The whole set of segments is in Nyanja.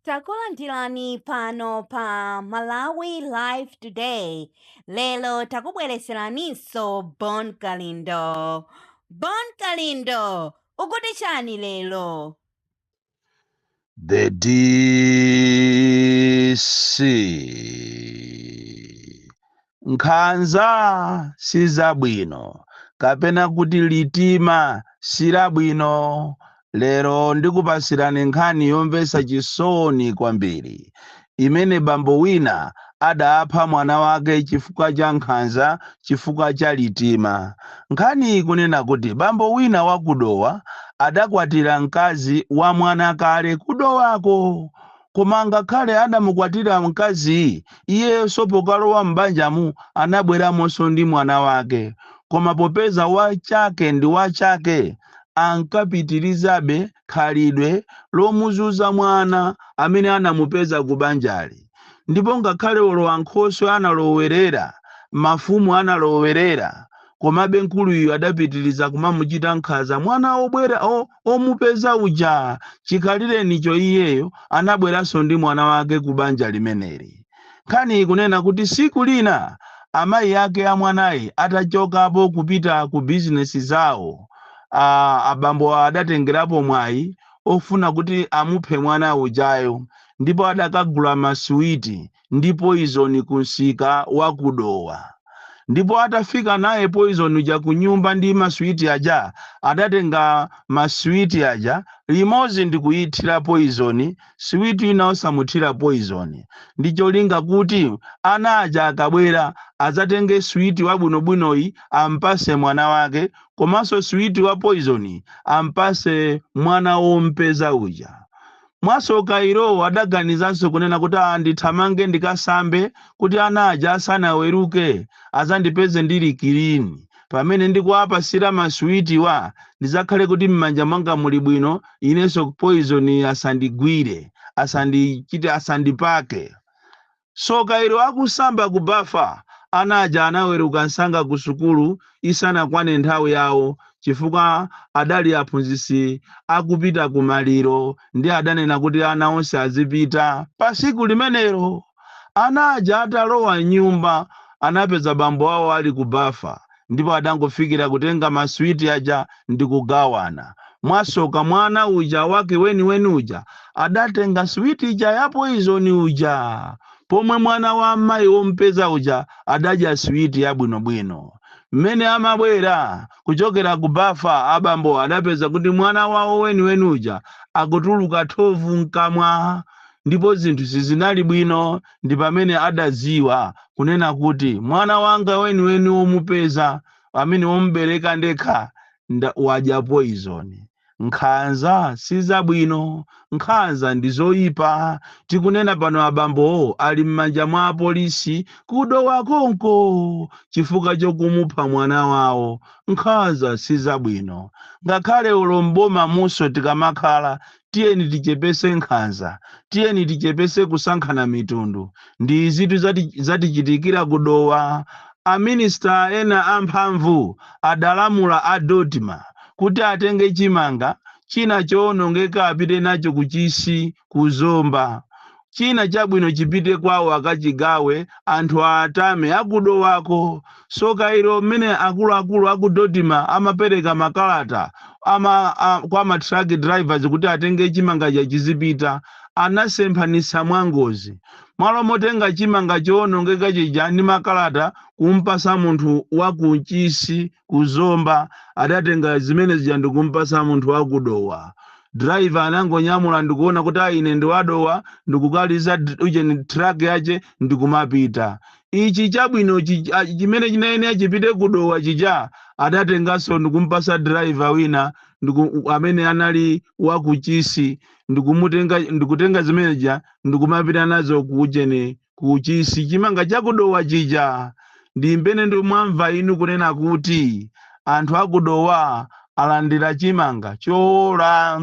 takulandirani pano pa malawi live today lero takubwereseraninso bon kalindo bon kalindo ukuti chani lero the dc Nkhanza sizabwino kapena kuti litima silabwino. Lero ndikupatsirani nkhani yomvetsa chisoni kwambiri imene bambo wina adapha mwana wake chifukwa cha nkhanza chifukwa cha litima. Nkhaniyi ikunena kuti bambo wina wa ku Dowa adakwatira mkazi wa mwana kale ku Dowako. Koma ngakhale adamukwatira mkaziyi, iyenso pokalowa m'banjamu anabweramonso ndi mwana wake. Koma popeza wa chake ndi wa chake, ankapitirizabe khalidwe lomuzunza mwana amene anamupeza kubanjali. Ndipo ngakhale olowankhoswe analowerera, mafumu analowerera, komabe mkuluyu adapitiliza kumamuchita nkhanza mwana obwera o, omupeza uja chikhalirenicho iyeyo anabweranso ndi mwana wake ku banja limeneli nkhani ikunena kuti siku lina amayi ake a mwanayi atachokapo kupita ku bizinesi zawo a abambo adatengerapo mwayi ofuna kuti amuphe mwana ujayo ndipo adakagula masuwiti ndi poizoni ku msika wa ku Dowa. Ndipo atafika naye poizoni uja ku nyumba ndi maswiti aja, adatenga maswiti aja limodzi ndi kuithira poizoni siwiti ina osamuthira poizoni, ndi cholinga kuti ana aja akabwera adzatenge switi wabwinobwinoyi ampase mwana wake komanso switi wa poizoni ampase mwana wompeza uja. Mwasoka ilo adaganizanso kunena kuti aah ndithamange ndikasambe kuti ana aja asanaweruke azandipeze ndili kilini. Pamene ndikuwapasira maswitiwa ndizakhale kuti mmanja mwanga muli bwino inenso poizoniyi asandigwire, asandichite, asandipake. Soka ilo akusamba ku bafa ana aja anaweruka msanga ku sukulu isanakwane nthawi yawo chifukwa adali aphunzitsi akupita ku maliro ndiye adanena kuti ana onse azipita. Pa tsiku limenelo ana aja atalowa m'nyumba anapeza bambo awo ali ku bafa ndipo adangofikira kutenga maswiti aja ndi kugawana. Mwasoka mwana uja wake weniweni uja adatenga switi ija ya poizoni uja, pomwe mwana wa mayi wompeza uja adadya switi yabwinobwino. Mmene amabwera kuchokera ku bafa, abambo adapeza kuti mwana wawo weniweni uja akutuluka thovu mkamwa ndipo zinthu sizinali bwino. ndi pamene adadziwa kunena kuti, Mwana wanga weniweni womupeza, amene wombereka ndekha, wadya poizoni. Nkhanza si zabwino, nkhanza ndi zoipa. Tikunena pano abambowo ali m'manja mwa apolisi ku Dowa konko chifukwa chokumupha mwana wawo. Nkhanza si zabwino. Ngakhale olo m'bomamunso tikamakhala tiyeni tichepese nkhanza tiyeni tichepese kusankhana mitundu ndi izitu zatichitikira kudowa aminista ena amphamvu adalamula a dodma kuti atenge chimanga china choonongeka apite nacho kuchisi kuzomba china chabwino chipite kwawo akachigawe anthu atame akudowako soka ilo mmene akuluakulu aku dodma amapereka makalata kwa ma truck drivers kuti atenge chimanga chija chizipita anasemphanitsa mwangozi malo motenga chimanga choonongeka chija ndi makalata kumpasa munthu wakuchisi ku Zomba adatenga zimene zija ndikumpatsa munthu wa ku Dowa. Driver anangonyamula ndikuona kuti ine ndi wa Dowa ndikukaliza ujeni truck yache ndikumapita. Ichi chabwino chimene chinayenera chipite ku Dowa chija adatenganso ndikumpatsa driver wina amene anali wa ku Chisi ndikutenga zimene zija ndikumapita nazo ku ujeni kuchisi chimanga chakudowa chija ndi mmene mwamva inu kunena kuti anthu akudowa alandira chimanga chowola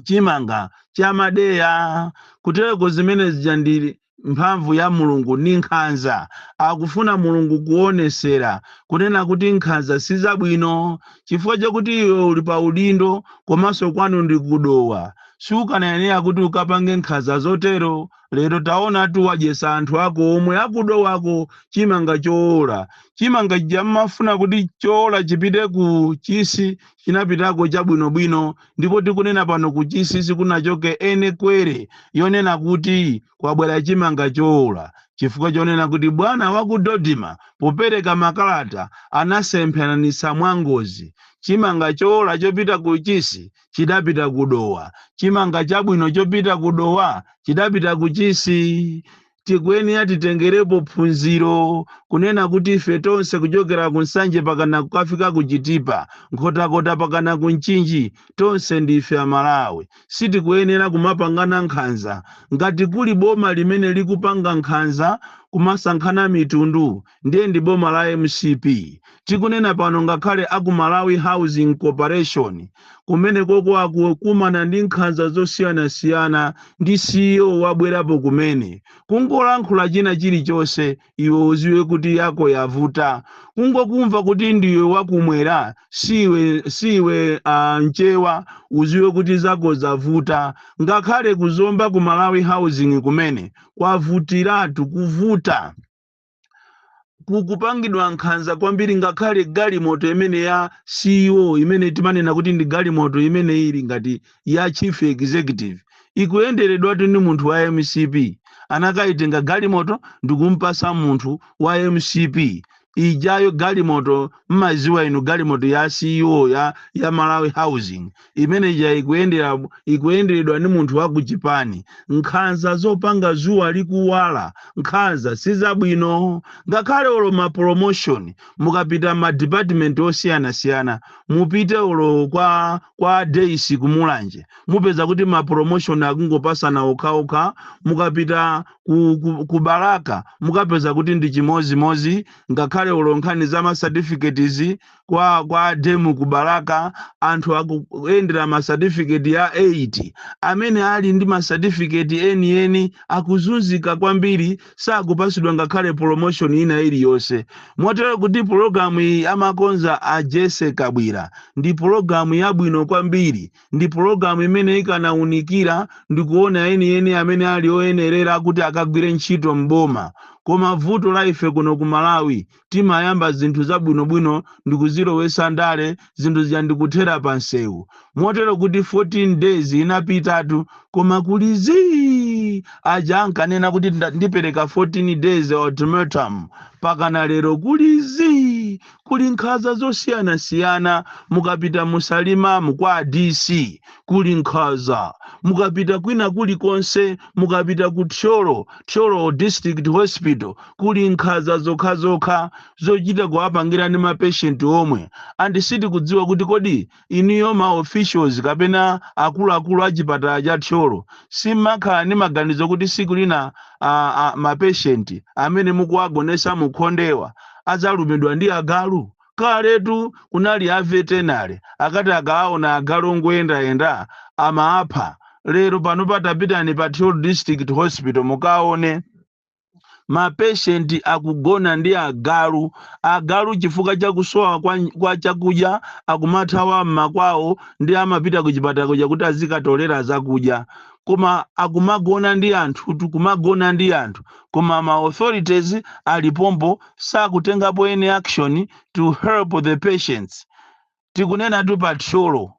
chimanga chamadeya kutereko zimene zija ndi mphamvu ya mulungu ni nkhanza akufuna mulungu kuonesera kunena kuti nkhanza si zabwino chifukwa chakuti iwe uli pa udindo komanso kwanu ndi kudowa sukanayenera kuti ukapange nkhanza zotero Lero taonatu wadyesa anthu ako omwe akudowako chimanga choola. Chimanga chija mmafuna kuti choola chipite ku Chisi chinapitako chabwinobwino ndipo tikunena pano ku Chisi sikunachoke any query yonena kuti kwabwera chimanga choola chifukwa chonena kuti bwana wa ku Dodma popereka makalata anasemphanitsa mwangozi chimanga choola chopita ku Chisi chidapita ku Dowa, chimanga chabwino chopita ku Dowa chidapita ku Chisi. Tikuyenera titengerepo phunziro kunena kuti ife tonse kuchokera ku Nsanje pakana kukafika ku Chitipa, Nkhotakota pakana ku Mchinji, tonse ndife Amalawi. Sitikuyenera kumapangana nkhanza. Ngati kuli boma limene likupanga nkhanza kumasankhana mitundu, ndiye ndi boma la mcp tikunena pano ngakhale aku malawi housing corporation kumene koko akukumana ndi nkhanza zosiyanasiyana ndi ceo wabwerapo kumene kungolankhula china chilichonse iwe uziwe kuti yako yavuta kungokumva kuti ndiwe wakumwera siwe siwe uh, mchewa uziwe kuti zako zavuta ngakhale kuzomba ku malawi housing kumene kwavutiratu kuvuta kukupangidwa nkhanza kwambiri ngakhale galimoto imene ya ceo imene timanena kuti ndi galimoto imene ili ngati ya chief executive ikuyenderedwatu ndi munthu wa mcp anakayitenga galimoto ndikumpasa munthu wa mcp ijayo galimoto mmaziwa inu galimoto ya ceo ya, ya malawi housing imene ija ikuyendera ikuyenderedwa ndi munthu wa ku chipani nkhanza zopanga zuwa likuwala nkhanza si zabwino ngakhale olo ma promotion mukapita ma department osiyanasiyana mupite olo kwa kwa dc kumulanje mupeza kuti ma promotion akungopasana okhaokha mukapita ku, ku, ku balaka mukapeza kuti ndi chimozimozi ngakhale olo nkhani za ma certificates kwa kwa dem ku balaka anthu akuyendera ma certificate ya 8 amene ali ndi ma certificate enieni akuzunzika kwambiri sakupasidwa ngakhale promotion ina iliyonse motero kuti pologalamu iyi amakonza a jessie kabwila ndi pologalamu yabwino kwambiri ndi pologalamu imene ikanaunikira ndikuona enieni amene ali oyenerera kuti akagwire ntchito m'boma koma vuto la ife kuno ku malawi timayamba zinthu zabwinobwino ndikuzilowesa ndale zinthu zija ndikuthera pa msewu motero kuti 14 days inapitatu koma kuli zii aja ankanena kuti nda- ndipereka 14 days ultimatum pakana lero kuli zii kuli nkhanza zosiyanasiyana mukapita musalima mukwa dc kuli nkhanza mukapita kwina kulikonse mukapita ku thyolo thyolo district hospital kuli nkhanza zokhazokha zochita kuwapangira ndi mapeshenti omwe and sitikudziwa kuti kodi inuyo ma officials kapena akuluakulu a chipatala cha thyolo simmakhala ndi maganizo kuti siku lina a, a, mapeshenti amene mukuwagonesa mukhondewa adzalumidwa ndi agalu Kaletu kunali a vetenale akati akaona agalu ongoyendayenda amaapha. Lero pano patapitani pa Thyolo District Hospital mukaone. Ma patient akugona ndi agalu. Agalu chifukwa cha kusowa kwa kwa chakudya akumathawa m'makwawo ndiye amapita kuchipatala kuja kuti azikatolera zakudya. Koma akumagona ndi anthutu, kumagona ndi anthu. Koma ma authorities ali pompo sakutengapo any action to help the patients. Tikunenatu pa Thyolo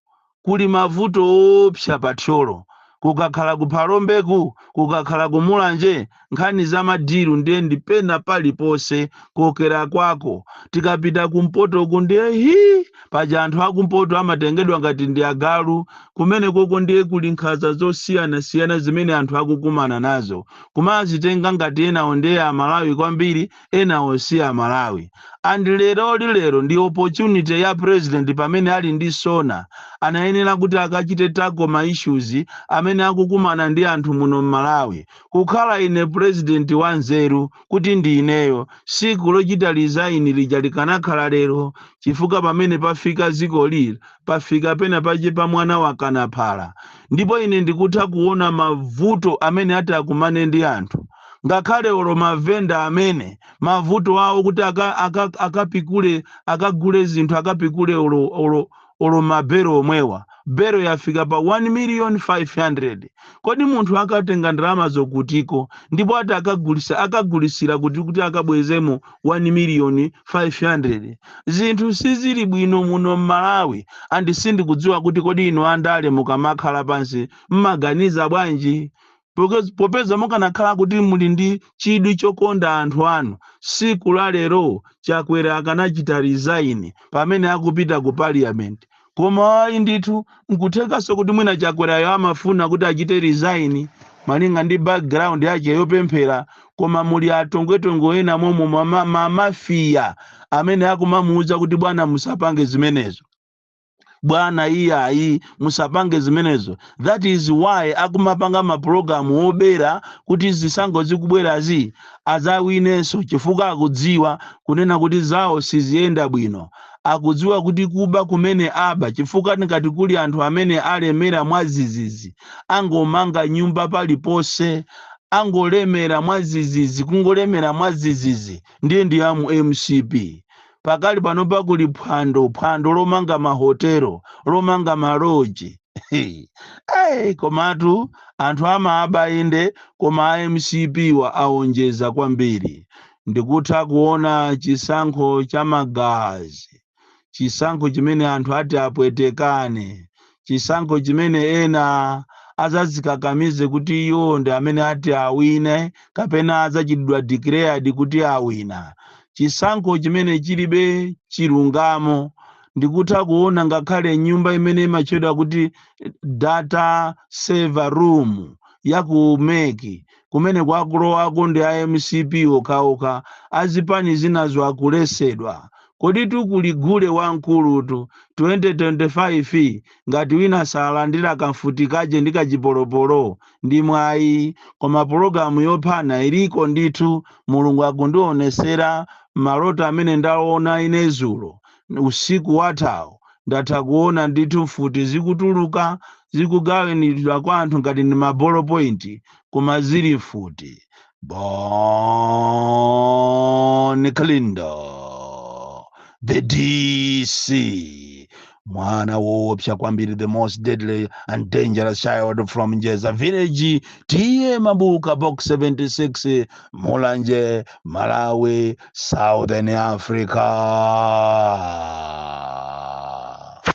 kuli mavuto oopsa pa Thyolo. Kukakhala ku Phalombeku, kukakhala ku Mulanje, nkhani za madilu ndiye ndi pena paliponse kokera kwako. Tikapita kumpotoku ndiye hii! Paja anthu akumpoto amatengedwa ngati ndi agalu. Kumenekoko ndiye kuli nkhanza zosiyanasiyana zimene anthu akukumana nazo. kumazitenga ngati enawo ndiye amalawi kwambiri enawo si amalawi and leroli lero ndi opportunity ya president pamene ali ndi sona anayenera kuti akachite tackle ma issues amene akukumana ndi anthu muno mmalawi kukhala ine president wa nzeru kuti ndi ineyo tsiku lochita resign lija likanakhala lero chifukwa pamene pafika dziko lino pafika pena pake pa mwana wakana phala ndipo ine ndikutha kuwona mavuto amene ati akumane ndi anthu, ngakhale olo mavenda amene, mavuto awo kuti aka, aka, akapikule, akagule zinthu, akapikule olo, olo, olo mabelo omwewa. Belo yafika pa 1 miliyoni 500. Kodi munthu akatenga ndalama zokutiko, ndipo ati akagulitsa, akagulitsila kuti kuti akabwezemo 1 miliyoni 500 zinthu sizili bwino muno m'malawi and sindikudziwa kuti kodi inu andale mukamakhala pansi mmaganiza bwanji Because popeza mukanakhala kuti muli ndi chidwi chokonda anthu anu tsiku la lero chakwera akanachita resign pamene akupita ku parliament Koma ayi ndithu, nkuthekanso kuti mwina Chakwerayo amafuna kuti achite resign malinga ndi background yake yopemphera koma muli a tongwetongwe ena momo ma, ma, ma mafia amene akumamuuza kuti bwana musapange zimenezo bwana iyayi musapange zimenezo that is why akumapanga mapulogalamu obera kuti zisankho zikubwerazi adzawinenso chifukwa akudziwa kunena kuti zawo siziyenda bwino akudziwa kuti kuba kumene aba chifukwa ngati kuli anthu amene alemera mwazizizi angomanga nyumba paliponse angolemera mwazizizi kungolemera mwazizizi ndiye ndi amu mcp pakali pano pa kuli phwando phwando lomanga mahotelo lomanga maloji hey, komatu anthu amaaba inde koma a mcpwa aonjeza kwambiri ndikutha kuona chisankho cha magazi, chisankho chimene anthu ati apwetekane, chisankho chimene ena adzadzikakamize kuti iwo ndi amene ati awine kapena adzachitidwa declared kuti awina, chisankho chimene chilibe chilungamo. Ndikutha kuona ngakhale nyumba imene imatchedwa kuti data server room ya ku meki kumene kukulowako ndi a mcp okhaokha azipani zinazo akuletsedwa koditu kuli gule wamkulutu 2025 ngati wina salandira kamfuti kaje ndi kachipolopolo ndi mwayi koma pulogalamu yophana iliko ndithu mulungu akundionetsera mmaloto amene ndaona ine zulo usiku wathawo, ndatha kuona ndithu mfuti zikutuluka zikugawanidwa kwa anthu ngati ndi ma ball point koma zili mfuti. Bon Kalindo the DC mwana woopsa kwambiri the most deadly and dangerous child from Njeza village TA Mabuka box 76 Mulanje Malawi Southern Africa.